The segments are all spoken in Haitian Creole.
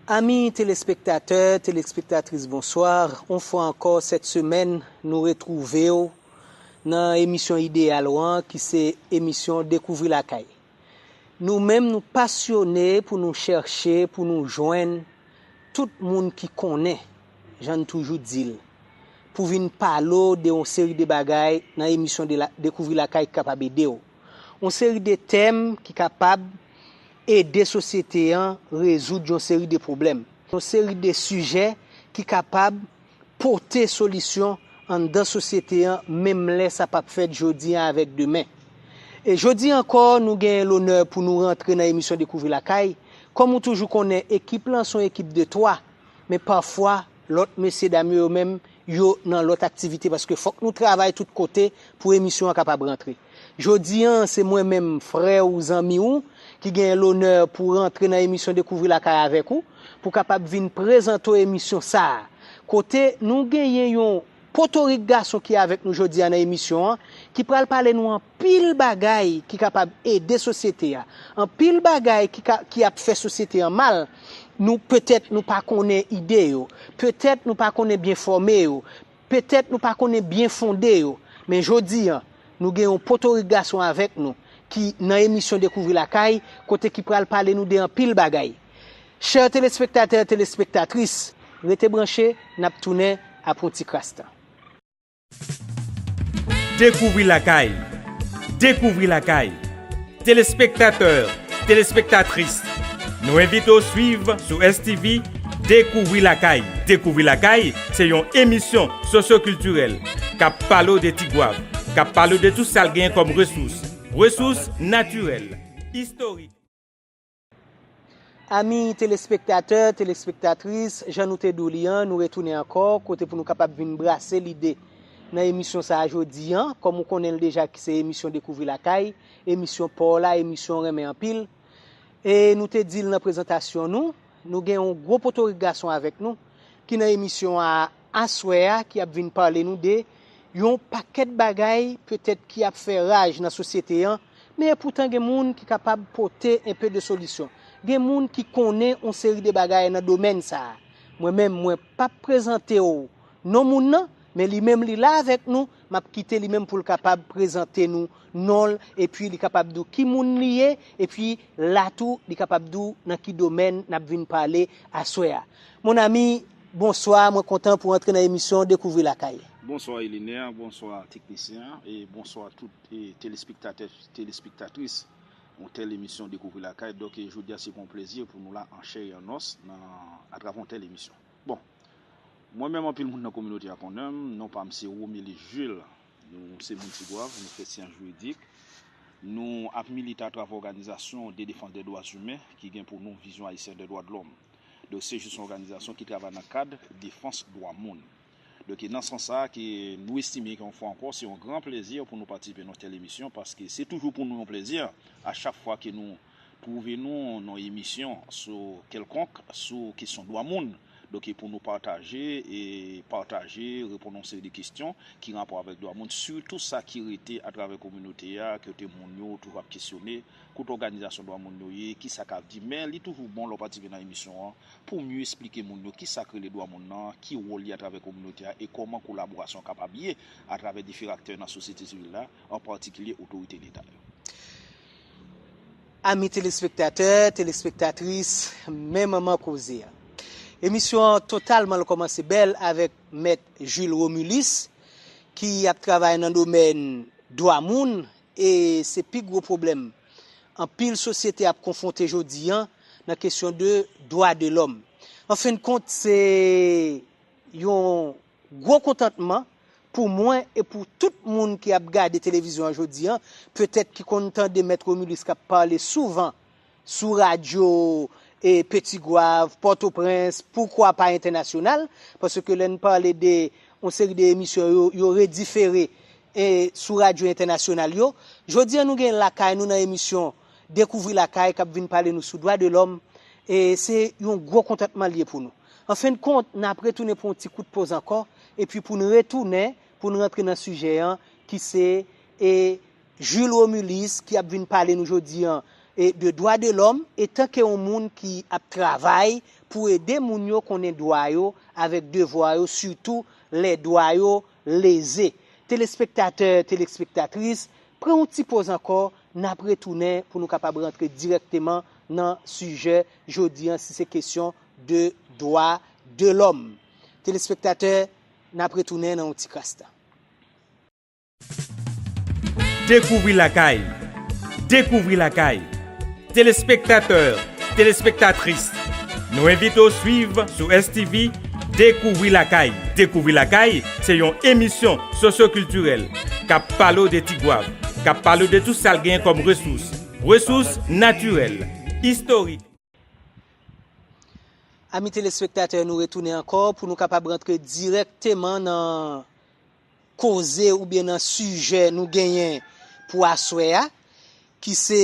Ami telespektatè, telespektatris bonsoir, on fwa ankò sèt semèn nou retwouvew nan emisyon ideyal ou an ki se emisyon dekouvri lakay. Nou menm nou pasyone pou nou chèche pou nou jwenn tout moun ki konnen, jan n toujou di l, pou vin pale w de yon seri de bagay nan emisyon de Dekouvri Lakay ki kapab ede w. Yon seri de tèm ki kapab ede sosyete an rezoud yon seri de pwoblèm. Yon seri de sijè ki kapab. pote solisyon anndan sosyete an menm lè sa pap fèt jodi a avèk demen. E jodi ankò nou genyen lonè pou nou rantre nan emisyon Dekouvri Lakay, kòm ou toujou konnen ekip lan son ekip de 3, men pafwa lòt mesye dam yo yo menm yo nan lòt aktivite paske fòk nou travay tout kote pou emisyon an kapab rantre. Jodi an, se mwen menm, frè ou, zanmi ou, ki genyen lonè pou rantre nan emisyon Dekouvri Lakay avèk ou, pou kapab vin prezante w emisyon sa a, kote nou genyen yon potorik gason ki avèk nou jodi a nan emisyon an, ki pral pale nou anpil bagay ki kapab ede sosyete a, anpil bagay ki ka, ki ap fè sosyete an mal, nou, petèt nou pa konnen ide yo, petèt nou pa konnen byenfòme yo, Petèt nou pa konnen byenfonde yo, men jodi an, nou gen yon potorik gason avèk nou ki nan emisyon Dekouvri Lakay kote ki pral pale nou de anpil bagay. Chè telespektatè, telespektatris, rete branche, n ap tounen apre yon ti kras tan. Dekouvri Lakay! Dekouvri Lakay! Telespektatè, telespektatris, nou envite w swiv sou STV Dekouvri Lakay! Dekouvri Lakay! se yon emisyon sosyokiltirèl k ap pale w de Ti Gwav, k ap pale w de tou sa l genyen kòm resous, resous natirèl, istorik. Ami telespektatè, telespektatris, jan nou te di w li an, nou retounen ankò, kote pou nou kapab vin brase lide nan emisyon sa a jodi an, kòm ou konnen l deja ki se emisyon Dekouvri Lakay, emisyon pa w la, emisyon w renmen anpil. E nou te di l nan prezantasyon nou, nou gen yon gwo potorik gason avèk nou, ki nan emisyon a. Aswè a ki ap vin pale nou de Yon pakèt bagay petèt ki ap fè raj nan sosyete an, men epoutan gen moun ki kapab pote enpe de solisyon, gen moun ki konnen on seri de bagay nan domèn sa a. Mwen menm mwen pap prezante w non moun nan, men li menm li la avèk nou, m ap kite li menm pou l kapab prezante nou non l epi li kapab di w ki moun li ye epi la tou li kapab di w nan ki domèn n ap vin pale aswè a. Mon ami. Bonswa mwen kontan pou antre nan emisyon dekouvri lakay. Bonswa Eliner, bonswa teknisyen an e bonswa tout telespektatè telespektatris yon tèl emisyon dekouvri lakay dòk jodia se pou yon plezi pou nou la an chè e an nòs nan atravè yon tèl emisyon bon mwen menm anpil moun nan kominote a konnenm non pam se Romeli Jules nou se moun Tigwav nou fè syans jiridik nou ap milite atravè òganizasyon de defans de dwa imen ki gen pou non vizyon ayisyen de dwa de lòm. Donk CJIS se yon òganizasyon ki travay nan kad defans dwa moun. Donk e nan sans sa a ke nou estime ke yon fwa ankò se yon gran plezi pou nou patisipe nan tèl emisyon paske se toujou pou nou yon plezi a chak fwa ke nou twouve nou nan emisyon sou kèlkonk sou kesyon dwa moun donk e pou nou pataje e pataje reponn yon seri de kesyon ki rapò avèk dwa moun sitou sa ki rete atravè kominote a kote moun yo toujou ap kesyone Kot òganizasyon dwa moun yo ye, kisa kap di. Men li toujou bon lè w patisipe nan emisyon an pou w mye esplike moun yo kisa k rele dwa moun nan, ki wòl li atravè kominote a e kòman kolaborasyon kapab ye atravè diferan aktè nan sosyete sivil la, an patikilye otorite leta yo. Ami telespektatè, telespektatris, men manman koze a. Emisyon an totalman l kòmanse bèl avèk Mèt Jules Romulus ki ap travay nan domèn dwa moun E se pi gwo pwoblèm anpil sosyete ap konfwonte jodi an nan kesyon de dwa de lòm. An fen de kont, se yon gwo kontantman pou mwen e pou tout moun ki ap gade televizyon an jodi an, petèt ki konn tande Mèt Romulus k ap pale souvan sou radyo Petit-Goâve, Pòtoprens, poukwa pa entènasyonal, paske lè n pale de yon seri de emisyon yo, yo redifere sou radyo entènasyonal yo. Jodi an nou gen Lakay nou nan emisyon Dekouvri Lakay k ap vin pale nou sou dwa de lòm, se yon gwo kontantman l ye pou nou. Anfendkont, n ap retounen pou yon ti kout poz ankò, epi pou n retounen, pou n rantre nan sijè an ki se. Jules Romulus ki ap vin pale nou jodi an de dwa de lòm etanke yon moun ki ap travay pou ede moun yo konnen dwa yo avèk devwa yo sitou lè dwa yo leze. Telespektatè, telespektatris, pran yon ti poz ankò, n ap retounen pou nou kapab rantre dirèkteman nan sijè jodi an si se kesyon de dwa de lòm. Telespektatè, n ap retounen nan yon ti kras tan. Dekouvri lakay! Dekouvri lakay! Telespektatè, telespektatris, nou envite w swiv sou STV Dekouvri lakay! Dekouvri lakay! se yon emisyon sosyokiltirèl k ap pale w de Tigwav, k ap pale w de tout sa l genyen kòm resous, resous natirèl, istorik. Ami telespektatè nou retounen ankò pou nou kapab rantre dirèkteman nan koze oubyen nan sijè nou genyen pou aswè a ki se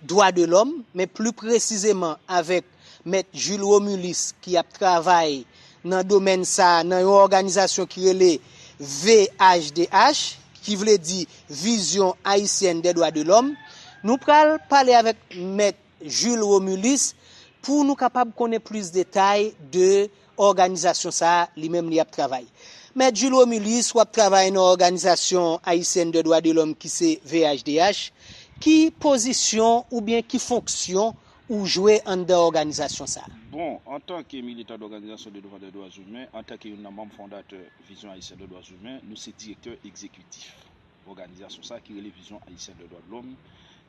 dwa de lòm men pli presizeman avèk mèt Jules Romulus ki ap travay nan domèn sa nan yon òganizasyon ki rele VHDH ki vle di Vision Haïtienne des Droits de l'Homme. Nou pral pale avèk mèt Jules Romulus pou nou kapab konnen plis detay de òganizasyon sa a li menm li ap travay. Mèt Jules Romulus, w ap travay nan òganizasyon Haïtienne de Droits de l'Homme ki se VHDH, ki pozisyon oubyen ki fonksyon ou jwe anndan òganizasyon sa a? Bon, antan ke militan dòganizasyon de defandè dwa imen, antan ke youn nan manm fondatè Vision Haïtienne de Droits Humains, nou se direktè egzekitif. Òganizasyon sa ki rele Vision Haïtienne de Droits de l'Homme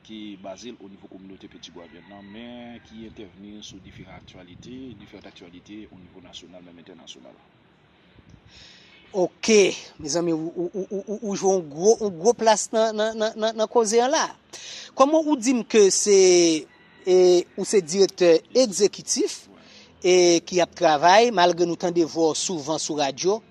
ki baze l o nivo kominote Peti Gwavyèn nan men ki entèvni sou diferan aktyalite, diferant aktyalite o nivo nasyonal menm entènasyonal. Ok mezanmi ou jwe yon gwo yon gwo plas nan koze an la. Kòman ou di m ke se e ou se direktè ekzekitif e ki ap travay malgre nou tande vwa w souvan sou radyo.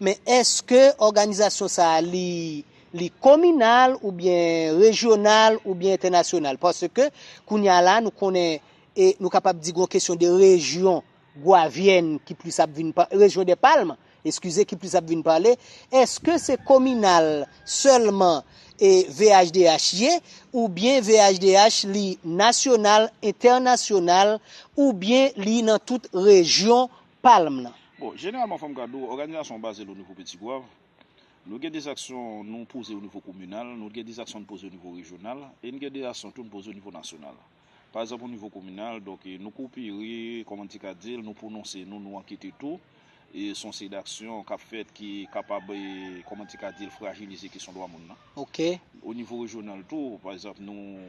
Men eske òganizasyon sa a li li kominal oubyen rejyonal oubyen entènasyonal? Paske kounye a la nou konnen e nou kapab di gon kesyon de rejyon gwavyèn ki plis ap vin pa, rejyon dè palm, eskize, ki plis ap vin pale. Eske se kominal sèlman e VHDH ye oubyen VHDH li nasyonal, entènasyonal oubyen li nan tout rejyon palm nan. Bon, jeneralman fòm ka di w, òganizasyon an baze l o nivo Peti Gwav. Nou gen de aksyon nou poze o nivo kominal, nou gen de aksyon n poze o nivo rejyonal, e n gen de aksyon tou n poze o nivo nasyonal. Pa egzanp o nivo kominal, donk nou kopere, kòman n te ka di l, nou pwononse nou, nou ankete tou, e s on seri daksyon k ap fèt ki kapab, kòman n te ka di l, frajilize kesyon dwa moun nan. Ok. O nivo rejyonal tou, pa egzanp nou.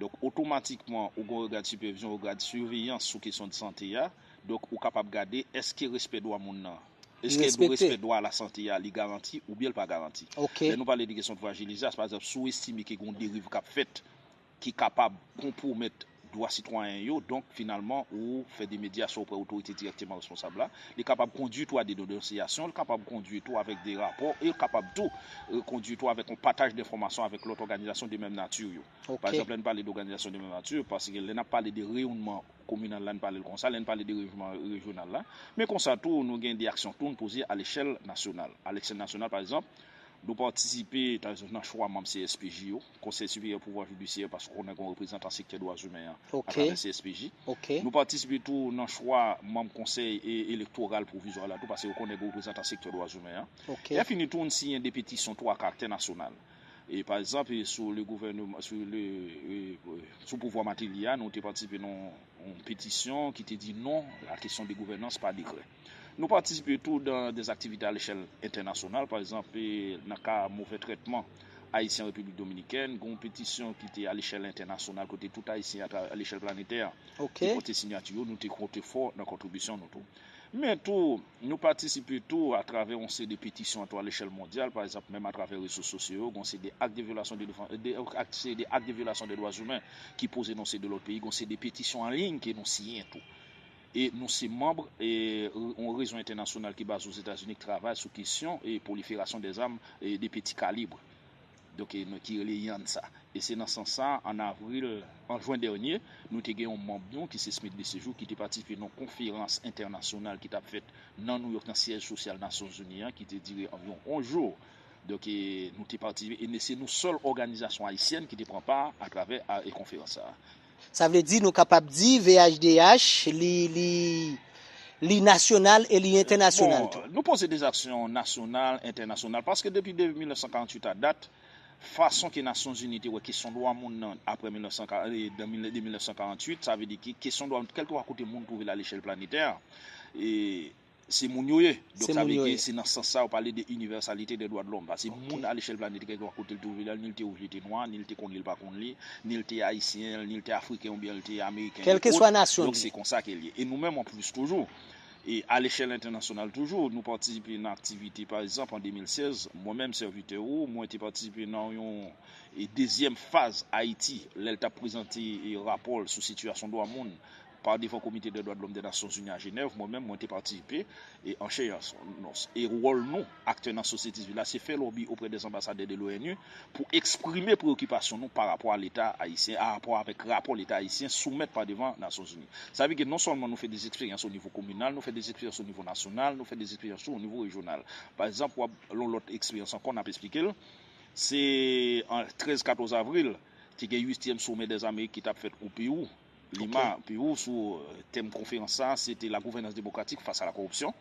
Donk otomatikman ou gen yon règad sipèvizyon, yon règad siveyans sou kesyon de sante a. Donk ou kapab gade èske respè dwa moun nan, èske respè dwa a la sante a li garanti oubyen l pa garanti. Lè nou pale de kesyon de frajilize a, se pa egzanp si w estime ke gen yon deriv k ap fèt ki kapab konpwomèt dwa sitwayen yo, donk finalman ou fè de medyasyon oprè otorite dirèkteman responsab la. Li kapab kondui tou a denonsyasyon, li kapab kondui tou avèk de rapò, e li kapab tou kondui tou avèk yon pataj denfòmasyon avèk lòt òganizasyon de menm nati yo. Pa egzanp, lè n pale de òganizasyon de menm nati, paske lè n ap pale de reyonnman kominal la, n pale l konsa, lè n pale de reyonnman rejyonal la, men konsa tou nou gen de aksyon tou n poze alechèl nasyonal. Alechèl nasyonal, pa egzanp, nou patisipe, ta egzanp, nan chwa manm CSPJ yo. Konsèy Siperyè Pouvwa Jidisyè paske ou konnen gen yon reprezantan sektè dwazimen an atravè CSPJ. Nou patisipe tou nan chwa manm Konsèy Elektoral Pwovizwa la tou paske ou konnen gen reprezantan sektè dwazimen an. Lèfini tou n siyen 2 petisyon tou a karaktè nasyonal. Pa egzanp, sou le gouvèneman, sou le, sou pouvwa Mateli a, nou te patisipe nan yon petisyon ki te di non a kesyon de gouvènans pa dekrè. Nou patisipe tou dan des aktivite alechèl entènasyonal, pa egzanp, nan ka movè trètman Ayisyen an Repiblik Dominikèn, gen yon petisyon ki te alechèl entènasyonal kote tout Ayisyen atra alechèl planetè a te pote sinyati yo, nou te konte fò nan kontribisyon nou tou. Men tou, nou patisipe tou atravè yon seri de petisyon an tou alechèl mondyal, pa egzanp, menm atravè rezo sosyo yo, gen yon seri de ak de vyolasyon de defann, de ak seri de ak de vyolasyon de dwazimen ki poze nan yon seri de lòt peyi, gen yon seri de petisyon an liyn ke nou siyen tou. e nou se manb yon rezo entènasyonal ki baze Ozetazini k travay sou kesyon pwoliferasyon dè zam de peti kalib, donk ki rele IANSA. E se nan sans sa, an avril, an jwen dènye, nou te gen yon manb nou ki se Smith Desséjours ki te patisipe nan yon konferans entènasyonal ki t ap fèt nan Nouyòk nan syèj sosyal Nasyonzini an ki te dire anviwon 11 jou, donk nou te patisipe e se nou sèl òganizasyon ayisyèn ki te pran pa atravè konferans sa a. Sa vle di nou kapab di VHDH li li li nasyonal e li entènasyonal tou. Bon, nou poze de aksyon nasyonal, entènasyonal paske depi de 1948 a dat, fason ke Nasyonzini te wè kesyon dwa moun nan aprè 1940 de 1948 sa vle di ki kesyon dwa moun kèlkeswa kote moun twouve l a lechèl planetè e Se moun yo ye. Donk sa vle di se nan sans sa yo pale de inivèsalite de dwa de lòm. Pase moun alechèl planete kèlke pa kote l te ouvri l, ni l te wouj li te nwa, ni l te konn li l pa konn li, ni l te ayisyen, ni l te afriken oubyen l te ameriken e kòt, donk se konsa ke l ye. E nou menm an plis toujou, e alechèl entènasyonal toujou, nou patisipe nan aktivite pa ekzanp an 2016, mwen menm sèvitè ou, mwen te patisipe nan yon dezyèm faz Ayiti lè l t ap prezante rapò l sou sitiyasyon dwa moun Pa devan Komite dè Dwa de Lòm dè Nasyon Zini a Jenèv, mwen menm, mwen te patisipe e an chè e an os. E wòl nou, aktè nan sosyete sivil la, se fè lòbi oprè dè anbasadè de l'ONU pou eksprime preyokipasyon nou pa rapò a Leta Ayisyen, a rapò avèk rapò Leta Ayisyen soumèt pa devan Nasyon Zini. Sa vle di non sèlman nou fè dè eksperyans o nivo kominal, nou fè dè eksperyans o nivo nasyonal, nou fè dè eksperyans tou o nivo rejyonal. Pa egzanp, w'ap yon lòt eksperyans ankò n'ap esplike l', se an 13, 14 avril, te gen uityèm somè dèz Amerik ki t'ap fèt o Pewou. Lima, Perou, sou tèm konferans sa a se te La gouvernance démocratique face à la corruption.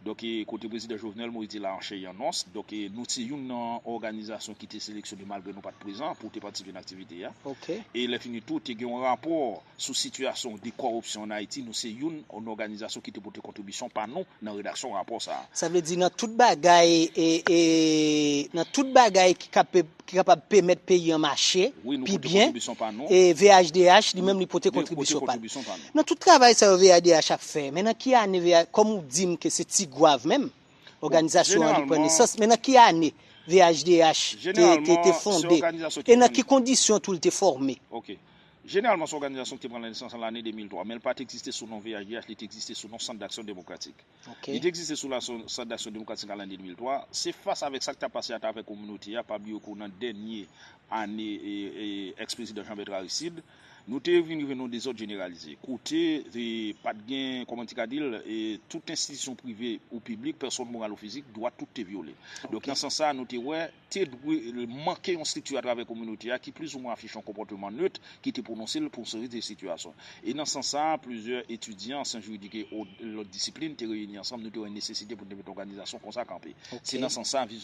Donk, kote Prezidan Jovenel Moïse te la an chè e an os. Donk, nou se youn nan òganizasyon ki te seleksyone malgre nou pa t prezan pou te patisipe nan aktivite a. E lèfini tou, te gen yon rapò sou sitiyasyon de kòripsyon ann Ayiti. Nou se youn nan òganizasyon ki te pote kontribisyon pa nou nan redaksyon rapò sa a. Sa vle di nan tout bagay, nan tout bagay ki ka ki kapab pemèt peyi an mache pi byen e VHDH li menm li pote kontribisyon pa l. Nan tout travay sa yo VHDH ap fè men nan ki ane VH kòm ou di m ke se ti gwav menm òganizasyon an li pran nesans men nan ki ane VHDH te te fonde e nan ki kondisyon tou li te fòme? Ok. Jeneralman se òganizasyon ki te pran nesans nan lane 2003 men li pa t egziste sou non VHDH li te egziste sou non Sant Daksyon Demokratik. Li te egziste sou la Centre d'Action Démocratique an lane 2003. Se fas avèk sa k ta pase atravè kominote a, pa bliye kou nan dènye ane ex prezidan Jean Bertrand Aristide, nou te vin rive nan yon dezòd jeneralize. Kote pa t gen, kòman ti ka di l, tout enstitisyon prive ou piblik, pèsòn moral ou fizik, dwa tout te vyole. Donk nan sans sa a, nou te wè. te dwe manke yon estrikti atravè kominote a ki plizoumwen afiche yon konpòteman nöt ki te pwononse l pou yon seri de sitiyasyon. E nan sans sa a, plizyè etidyan, syans jiridik e lòt disiplin te reyini ansanm, nou te wè nesesite pou nou te mete òganizasyon konsa kanpe. Se nan sans sa a,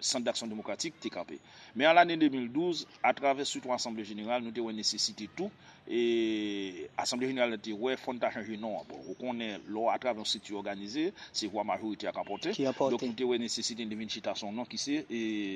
Sant Daksyon Demokratik te kanpe. Men an lane 2012, atravè sitou asanble jeneral, nou te wè nesesite tou, E asanble jeneral la te wè fò n ta chanje non an. Bon, ou konnen lò atravè yon strikti òganize, se vwa majorite a k anpòte. Donk nou te wè nesesite n te vin chita sou yon non ki se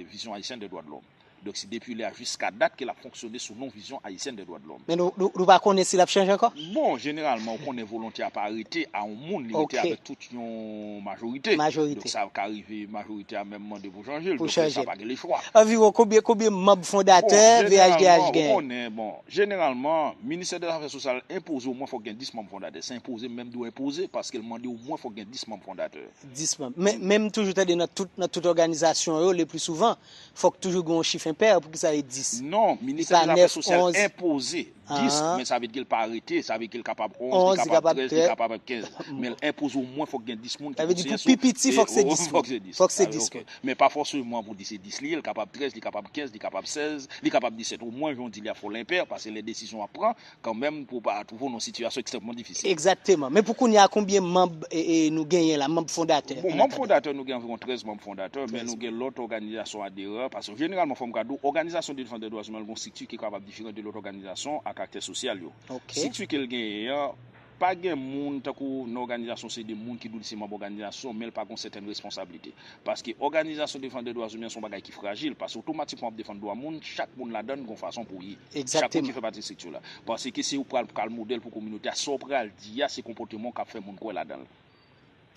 Vision Haïtienne des Droits de l'Homme. Donk se depi lè a jiska dat ke l ap fonksyone sou non Vision Haïtienne des Droits de l'Homme. Men nou pa konnen si l ap chanje ankò? Bon, jeneralman ou konnen volonte a pa rete a yon moun, li rete avèk tout yon majorite. Donk sa ka rive majorite a menm mande pou chanje l. Donk lè sa a pa gen lechwa. Anviwon konbyen manb fondatè VHDH genyen? Jeneralman ou konnen, bon, Jeneralman, Ministè de Zafè Sosyal enpoze omwen fòk gen 10 manm fondatè. Se enpoze m menm di w enpoze paske l mande omwen fòk gen 10 manm fondatè. 10 manm. Men m toujou tande nan tout nan tout òganizasyon yo leplisouvan, fòk toujou gen yon chif enpè, poukisa e 10? Non, Ministè de Zafè Sosyal enpoze 10, men sa vle di l pa arete, sa vle di ke l kapab 11, li kapab 13, li kapab 15. Men l enpoze omwen fòk gen 10 moun ki konsiyen sou. Sa vle di pou pi piti fòk se 10 moun. Fòk se 10 moun. Fòk se 10 moun. Men pa fòseman pou di se 10 li ye, li kapab 13, li kapab 15, li kapab 16, li kapab 17. O mwen jan w di li a fò l enpè, pase lè desizyon ap pran, kanmenm pou w pa twouve w nan yon sitiyasyon ekstrèmman difisil. Egzakteman. Men pou kounya konbyen manb nou genyen la, manb fondatè? Bon, manb fondatè nou gen anviwon 13 manb fondatè, men nou gen lòt òganizasyon aderan, pase jeneralman fò m ka di w, òganizasyon defansè dwazimen l gen yon strikti ki kapab diferan de lòt òganizasyon ak aktè sosyal yo. Strikti ke l genyen an. Pa gen moun tankou w nan òganizasyon se de moun ki dou li se manb òganizasyon men l pa gen yon sètèn responsablite paske òganizasyon defandè dwa zimen se yon bagay ki frajil paske otomatikman wap defann dwa moun chak moun ladann gen yon fason pou ye chak moun ki fè pati estrikti la paske se ou pral pral modèl pou kominote a sa w pral di a se konpòteman w kap fè moun kwè ladan l.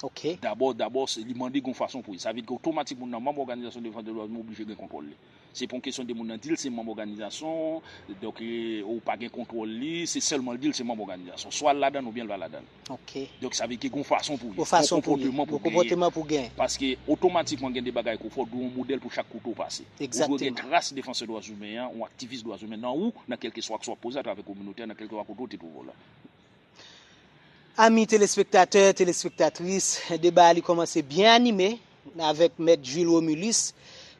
Ok. Dabò, dabò, se li mande gen yon fason pou ye. Sa vle di gen otomatik moun nan manm òganizasyon defansè dwa moun oblije gen kontwòl li. Se pa yon kesyon de moun nan di l se manm òganizasyon, donk ou pa gen kontwòl li, se sèlman l di l se manm òganizasyon. Swa l ladan l oubyen l pa ladan l. Ok. Donk sa vle di ke gen yon fason pou ye. Yon fason pou ye. Gen yon konpòteman pou genyen. Gen yon konpòteman pou genyen. Paske otomatikman gen de bagay ke w fè, w dwe yon modèl pou chak kote w pase. Egzakteman. Ou dwe gen tras defansè dwa imen an, yon aktivis dwa imen nan ou, nan kèlkeswa aksyon w ap poze atravè kominote a, nan kèlkeswa kote w te twouve w la. Ami telespektatè, telespektatris, deba a li kòmanse byen anime avèk mèt Jules Romulus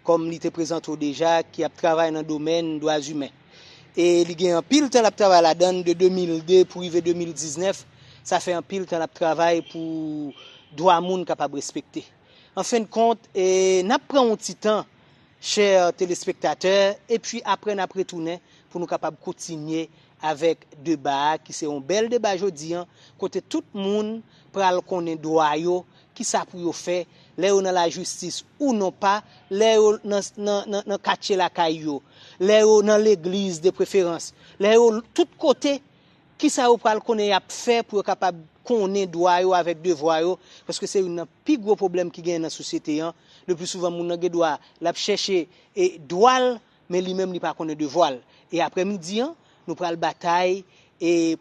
kòm li te prezante w deja ki ap travay nan domèn dwa zimen. E li gen anpil tan l ap travay ladan l de 2002 pou rive 2019, sa fè anpil tan l ap travay pou dwa moun kapab respekte. Anfendkont, n ap pran yon ti tan Chè telespektatè, epi aprè n ap retounen pou nou kapab kontinye avèk deba a ki se yon bèl deba jodi an kote tout moun pral konnen dwa yo, kisa pou yo fè lè yo nan lajistis ou non pa, lè yo nan katye lakay yo, lè yo nan legliz de preferans, lè yo tout kote. Kisa yo pral konnen y ap fè pou yo kapab konnen dwa yo avèk devwa yo, paske se youn nan pi gwo pwoblèm ki genyen nan sosyete an, lepli souvan moun nan gen dwa l ap chèche dwa l men li menm li pa konnen devwa l. E aprè midi an, nou pral batay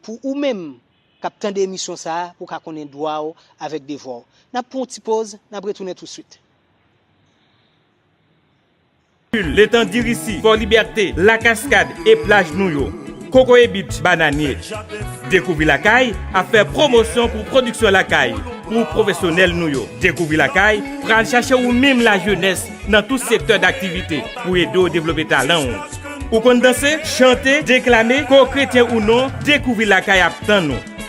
pou ou menm k ap tande emisyon sa a pou w ka konnen dwa w avèk devwa w. N ap pran yon ti poz, n ap retounen tousuit. Kul, Letan Dirisi, Fò Libète, La Kaskad e plaj nou yo, Kokoye Beach, Bananye. Dekouvri Lakay ap fè pwomosyon pou pwodiksyon lakay pou pwofesyonèl nou yo. Dekouvri Lakay pral chache ou menm lajenès nan tout sektè daktivite pou ede w devlope talan ou. Ou konn danse, chante, deklame, ke w kretyen ou non, Dekouvri Lakay ap tann ou.